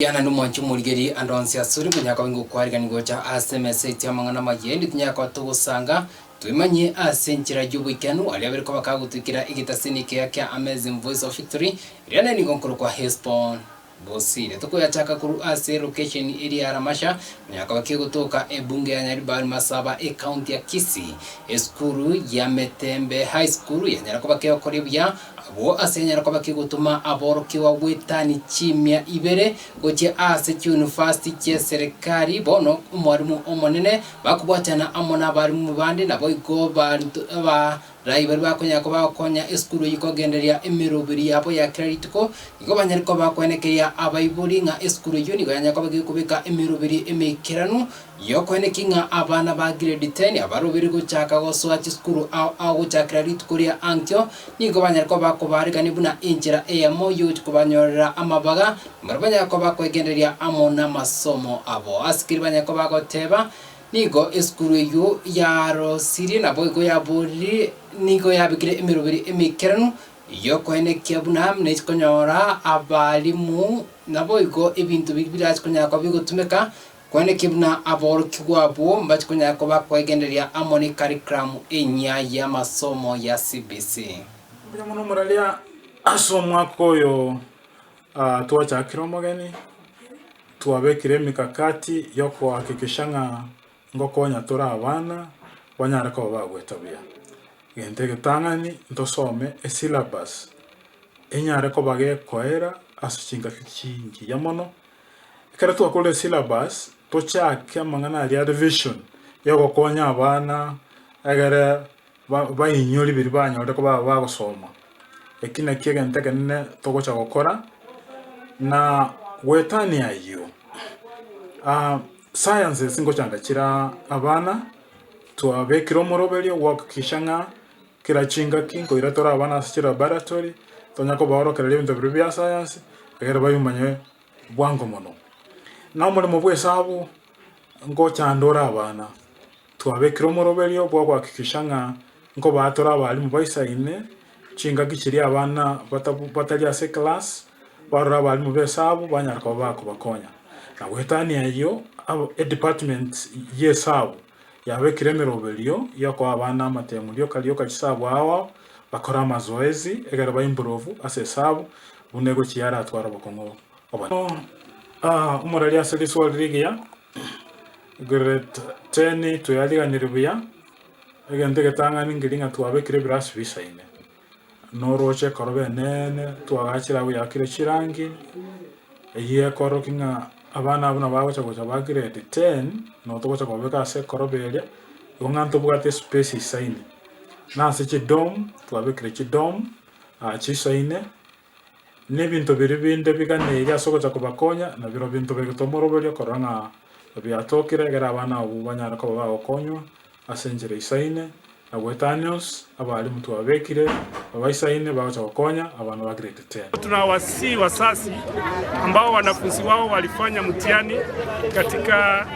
Diana nomwancho omorigererie ande onsi asore, manyara koba ingokwarigani gocha ase emesa eito y'amang'ana amaya, erinde tunyare koba togosanga, twemanyie ase enchera y'oboikeranu, aria abere koba kagotwikera egetasini ekeya kia Amazing Voice of Victory, eria nere nigo nkorokwa Hesbon. Bosire tokoyachaka korwa ase lokesheni eria ya Ramasha, manyara koba kegotoka ebunge ya Nyaribari Masaba, ecounty ya Kisii. Esukuru ya Metembe High School yanyara koba kegokoria buya, Agwo ase enyare koba kegotoma aborokigwa gwetani chimia ibere gochia ase chiyunifasti chi'eserekari, bono omwarimu omonene, bakobwatana amo n'abarimu bande, naboigo abaruto abarai baria bakonyara koba bagokonya esukuru eyio kogendereria emeroberi yabo ya kera rituko, nigo banyare koba bakoenekeria abaibori ng'a esukuru eyio nigo yanyare koba gekobeka emeroberi emeikeranu, Yokwane ki ng'a abana ba grade ten abarobeire gochaka gosoa chisukuru ao agochakera rituko ria ankio nigo banyare koba bakobarekania buna enchera eyemo y'okobanyorera amabaga, mbare banyare koba bakoegendereria amo namasomo abo. Asikiri banyare koba bagoteba, Nigo esukuru eyio yarosirie, naboigo yabooriri, nigo yabekire emeroberi emeikeranu, yokwenekia buna nechia konyora abalimu, naboigo ebinto biria birachi konyara koba bigotumeka, Kwane ki buna aborokigwa abwo mbache konyara koba kwegendereria amo ne karikiramu enyia y'amasomo ya CBC. Mbuya mono moraria ase omwaka oyo twachakire omogeni, twabekire emikakati yokohakikisha ng'a ngokonya tore abana banyare koba bagoeta buya. Egento egetang'ani ntosome esyllabus enyare koba gekoera ase chingaki chingiya mono Ekero twakora esyllabus, tochake amang'ana aria are vision y'ogokonya abana egere bainyore biria banyorire koba abagosoma. Eki nakio egento ekenene togocha gokora na goetania ayio, sciences ngocha ngachire abana, twabekire omoroberio gwakikisha ng'a. Kera chingaki nkoira tore abana ase chilaboratory, tonya kobaorokereria ebinto biria bia sayansi, egere babimanye bwango mono. Na omoremo bw'esabu ngochandore abana, twabekire omoroberio bwa gohakikisha ng'a nkobaa tore abalimu baisaine chingaki chiria abana batari ase eclass barore abalimu b'esabu banyare koba bakobakonya. Na goetania eyio, edepartment y'esabu. Yabekire emeroberio y'okoa abana amatemu rioka rioka chisabu agho bakore amazoezi ekero ba improve ase esabu buna egochi yaratware obokong'u obonene. Omorari ase riswori rigiya, Grade ten, toyariganire buya, egento egetang'ani ngeria ng'a twabekire ebirasi bisaine. Norooche ekoroba eneene, twagachire abwo yakire chirangi, eyio ekororokia ng'a abana abwo nabo bagocha gocha ba grade ten, nabo togocha kobabeka ase ekoroba eria, igo ng'a ntobwate espace isaine. Na ase chidom, twabekire chidom chisaine. na ebinto biria binde biganeirie ase ogocha kobakonya, nabirobio binto begetwe moroberio korora ng'a biatokire, ekero abana abwo banyare koba bagokonywa ase enchera eisaine, na goetanios abaalimu twababekire babaisaine bagocha gokonya abana ba Grade ten. Tunawasihi wazazi ambao wanafunzi wao walifanya mtihani katika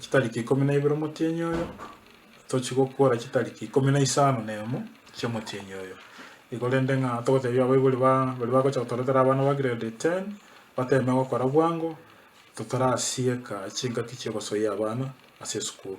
Chitariki ikomi na ibere omotienyi oyo, tochi gokuora chitariki ikomi na isano na emo chi'omotienyi oyo igo rende ng'a togotebia abaibori ba baria bagocha gotoretera abana ba grade ten bateme gokora bwango, totarasieka chingaki chi'ogosoyia abana ase esukuru.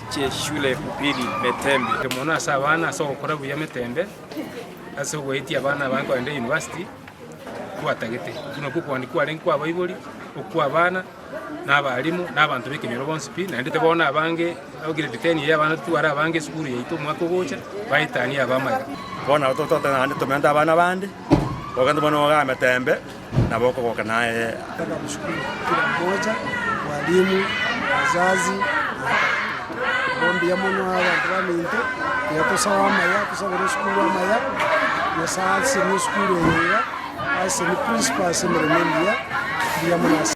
chie Shule Upili Metembe. Mono ase abana ase ogokora buya Metembe ase ogoetia abana abange kogenda University kwatagete. Buna okwo okoani kwarenge kwa abaibori, okwa abana na abalimu na abanto b'ekenyoro bonsi pi. Naende bono abange aba grade ten eye abana tware abange esukuru yaito omwaka ogocha baetanie aba amaya. Bono nabo totote naende tomente abana abande, togende bono iga Metembe. nabo okogoka naye aye. Abasukuru kila mmoja, walimu, wazazi, na abakristo. Bo mbuya mono abanto baminto, buya tosae amaya, tosabere esukuru amaya. Nyasae asesenie esukuru eye iga, asesenie principal ase emeremo emiya. Mbuya mono ase.